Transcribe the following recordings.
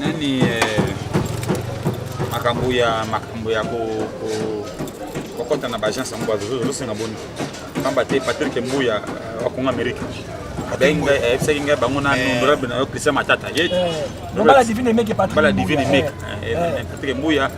nani eh, makambo ya makambo ya kokɔta na baagence yango bazosenga boni pamba te patrik mbuya eh, wakongo amerika ayebisaki ngai bango na eh. honorable na yo christian matata ye eh. bala divine meke patrik mbuya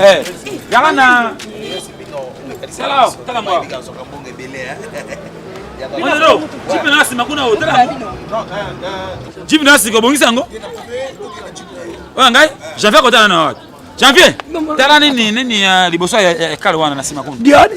Eh, yaka na jipe na nsima kuna otala jipe na sika obongisi yango oyo ngai janvier akotana na wapi janvier tala nini nini ya liboso ya ekale wana na nsima kuna diane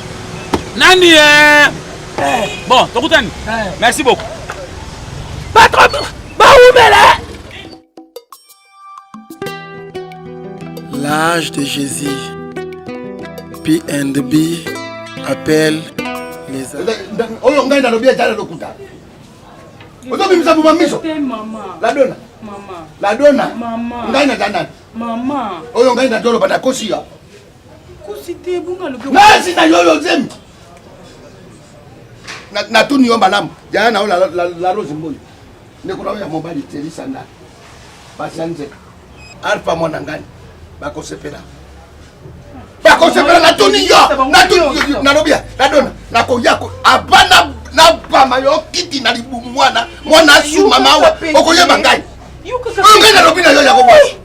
Nani eh? eh. Bon, tokutani. Eh. Merci beaucoup. Patron, ba oumela. L'âge de Jésus. P and B appelle les Oyo ngai nalobi ajala lokuta. Ozo bimisa buma miso. La dona. Mama. La dona. Mama. Ngai na dana. Mama. Oyo ngai na dolo bana kosia. nasi na yo yo zemi natuni yo malamu yaya na yo la rose mboyi ndeko na yo ya mobali telisa ndani basi ya nzeka alfa mwana ngani bakosepela bakosepela natuni yo nalobi ya nadona nakoya abana nabama yo kiti na libumu mwana mwana asuma mawa okoyeba ngai ngai nalobi na yo yango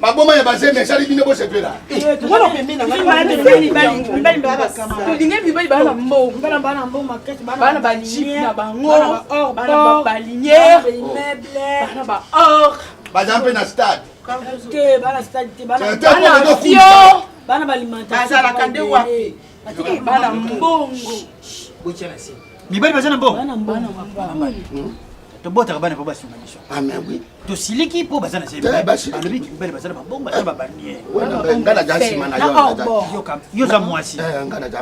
maboma ya bazembe esali bino bosepela baza mpe na stade bazalaka nde wapi bana mbongo mibali baza na mbongo tobotaka bana mpo basunga biso tosiliki mpo baza na seyoza mwasi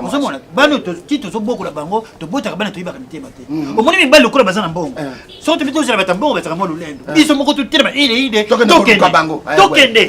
ozomona bana ti tozobokola bango tobotaka bana toyibaka mitema te mm. omoni mibali lokola baza na mbongo eh. soki tobi tozala bata mbongo bazaka mwa lolendo eh. biso moko totelema ileide tokende tokende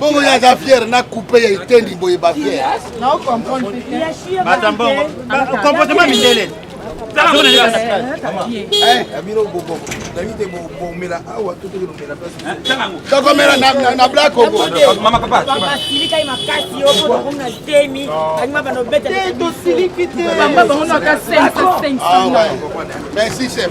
bongo ye aza fiere na coupe ya etendi boye bafiere comportement mindele tokomela na bla kongotosiliki te merci chef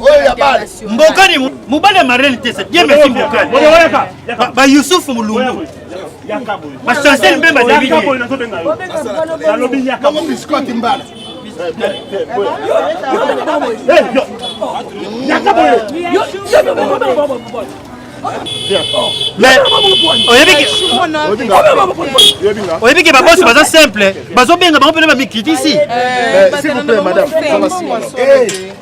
oyo ya bale mbokani mobali ya marene te se bien merci mbokani ba yusuf mulungu ba chancel mbemba david alobi yaka mo biscuit mbala yaka boye oyebi ke babosi baza simple bazobenga bango mpena bamikritisi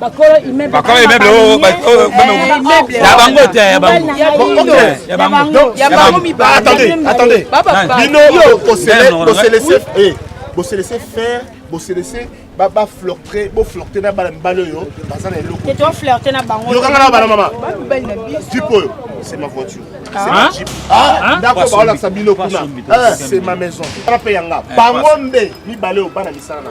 bakolo immeuble bakolo immeuble oyo ya bango te ya bango ya bango ya bango mibale attendez attendez bino bosele bosele eh bosele faire bosele baflirte boflirte na bana mibali oyo baza na elokoflirte na bangolokanga na bana mama jipe oyo c'est ma voiture ah. Ah, ah, ndako baolakisa bino kuna eh, c'est ma maison ana mpe yanga eh, bango nde mibale oyo bana misala na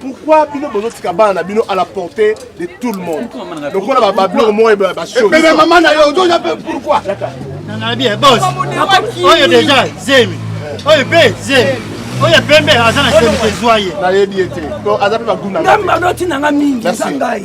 pourquoi bino bozotika bana na bino à la portée de tout le monde lokola bababiloko moko ebebe eh, mama na yo ozoya mpe pourquoi nana bien bos oyo déjà zemi oyo mpe zemi oyo pembe aza na zemi ezwa ye nayebi ye te aza mpe baguna ngai manoti na ngai mingi eza ngai